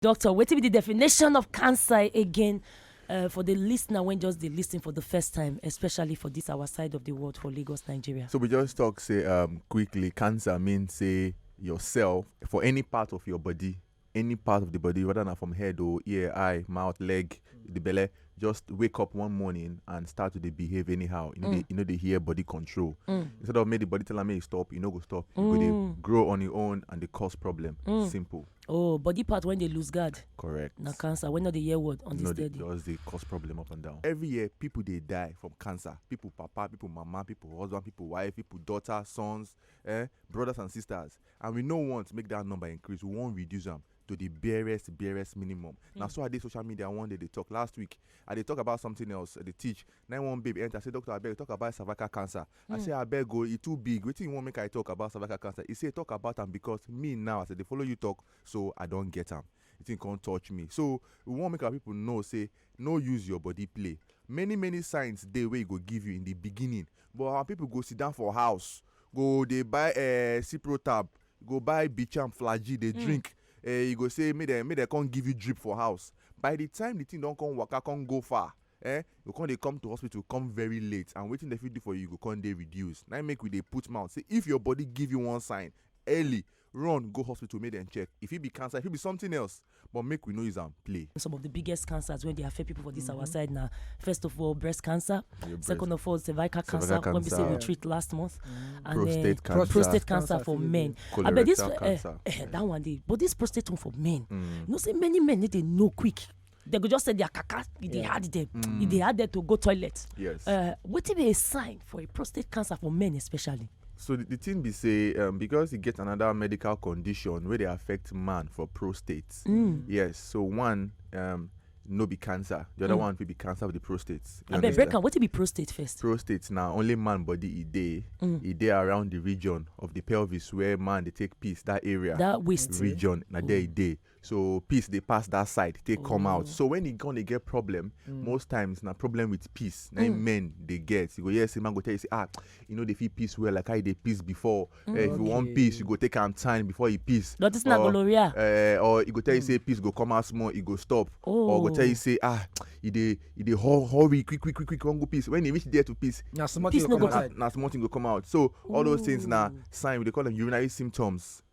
Doctor, wetin be the definition of cancer again uh, for the listener when just they listen for the first time, especially for this our side of the world for Lagos, Nigeria? So we just talk say um, quickly. Cancer means say yourself for any part of your body, any part of the body, whether not from head or ear, eye, mouth, leg, the belly, just wake up one morning and start to dey behave anyhow you no dey you no dey hear body control instead of make the body tell am make e stop e no go stop e go dey grow on e own and dey cause problem simple oh body part when dey lose guard correct na cancer wey no dey hear word on no this dey steady just dey cause problem up and down. every year people dey die from cancer people papa people mama people husband people wife people daughter sons eh, brothers and sisters and we no want make that number increase we wan reduce am to the barest barest minimum na hmm. so i dey social media one day dey talk last week i dey talk about something else i dey teach na one babe enter say doctor abeg talk about cervical cancer i hmm. say abeg o oh, e too big wetin you wan make i talk about cervical cancer e say talk about am because me now as i dey follow you talk so i don get am the thing come touch me so we wan make our people know say no use your body play many many signs dey wey e go give you in the beginning but our people go sit down for house go dey buy uh, ciprotab go buy bicham flagy dey drink eh you go say make dem make dem come give you drip for house by the time the thing don come waka come go far eh you go come dey come to hospital come very late and wetin dem fit do for you go come dey reduce na im make we dey put mouth say if your body give you one sign early run go hospital make dem check e fit be cancer e fit be something else but make we no use am play. Some of the biggest cancers when they affect people for this mm -hmm. our mm-hmm. side now. First of all, breast cancer. Breast. Second of all, cervical, cervical cancer, cancer, when we say we treat last month. Mm -hmm. And prostate, then, cancer. prostate cancer, for men. Colorectal but this, cancer. Uh, uh, that one day. But this prostate one for men. Mm. You know, say many men need to know quick they go just say their kaka e dey hard them e dey hard them to go toilet yes uh, wetin be a sign for a prostate cancer for men especially So the, the thing be say um, because he get another medical condition where they affect man for prostate. Mm. Yes. So one um, no be cancer. The other mm. one will be cancer of the prostate. I bet break What be prostate first? Prostate now only man body e day mm. e day around the region of the pelvis where man they take peace that area. That waist region na there e mm. day. so peace dey pass that side take come out so when e gonna get problem most times na problem with peace na im men dey get you go hear say man go tell you say ah you no dey feel peace well like how you dey peace before Eh, if you wan peace you go take am time before you peace But it's not Or, gonorrhea. eh, or e go tell you say peace go come out small e go stop or go tell Oh. you say ah e dey e dey hur- hurry quick quick quick quick wan go peace when e reach there to peace na small Peace thing no go go come na outside. na small thing go come out so all those things na sign we dey call them urinary symptoms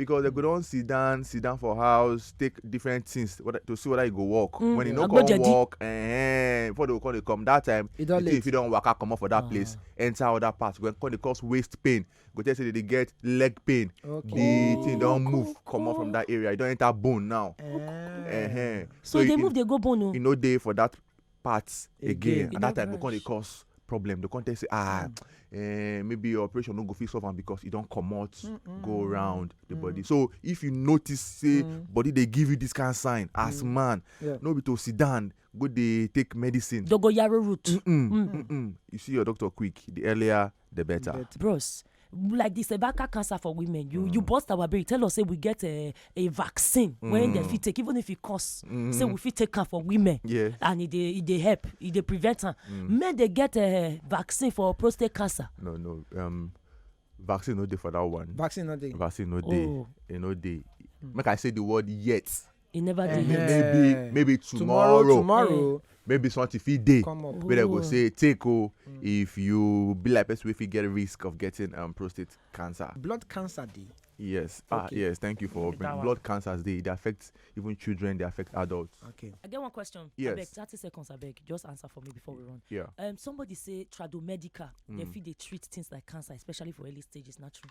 because dem go don sit down sit down for house take different things to see whether e go work mm. when e no come work eh, before they come dey come that time e the thing fit don waka comot for that ah. place enter other part go come dey cause waist pain go tell say they dey get leg pain the thing don move comot from that area e don enter bone now eh. eh, eh. so e dey move dey go bone o oh. e no dey for that parts again, again. and that time go come dey cause problem dey come tell say ah mm. eh, maybe your operation no go fit solve am because e don comot mm -mm. go mm, round the mm. body so if you notice say mm. body dey give you this kind of sign as mm. man yeah. no be to sit down go dey take medicine. dogoyaro root. Mm -mm, mm. Mm -mm. you see your doctor quick the earlier the better. better. Bros, like the cervical cancer for women you mm. you burst our brain tell us say we get a a vaccine mm. when dem fit take even if e cost mm. say we fit take am for women yeah. and e dey e dey help e dey prevent am mm. men dey get a vaccine for prostate cancer no no um, vaccine no dey for that one vaccine no dey vaccine no dey oh. e no dey mm. make i say the word yet e never dey here maybe maybe tomorrow tomorrow tomorrow maybe something fit dey come up wey dem go say take o mm. if you be like person wey fit get risk of getting um, prostate cancer. blood cancer dey. yes ah yes thank you for opening blood cancers dey dey affect even children dey affect adults. okay i get one question. yes abeg thirty seconds abeg just answer for me before we run. yeah um, somebody say tradomedica mm. dem fit dey treat things like cancer especially for early stages na true.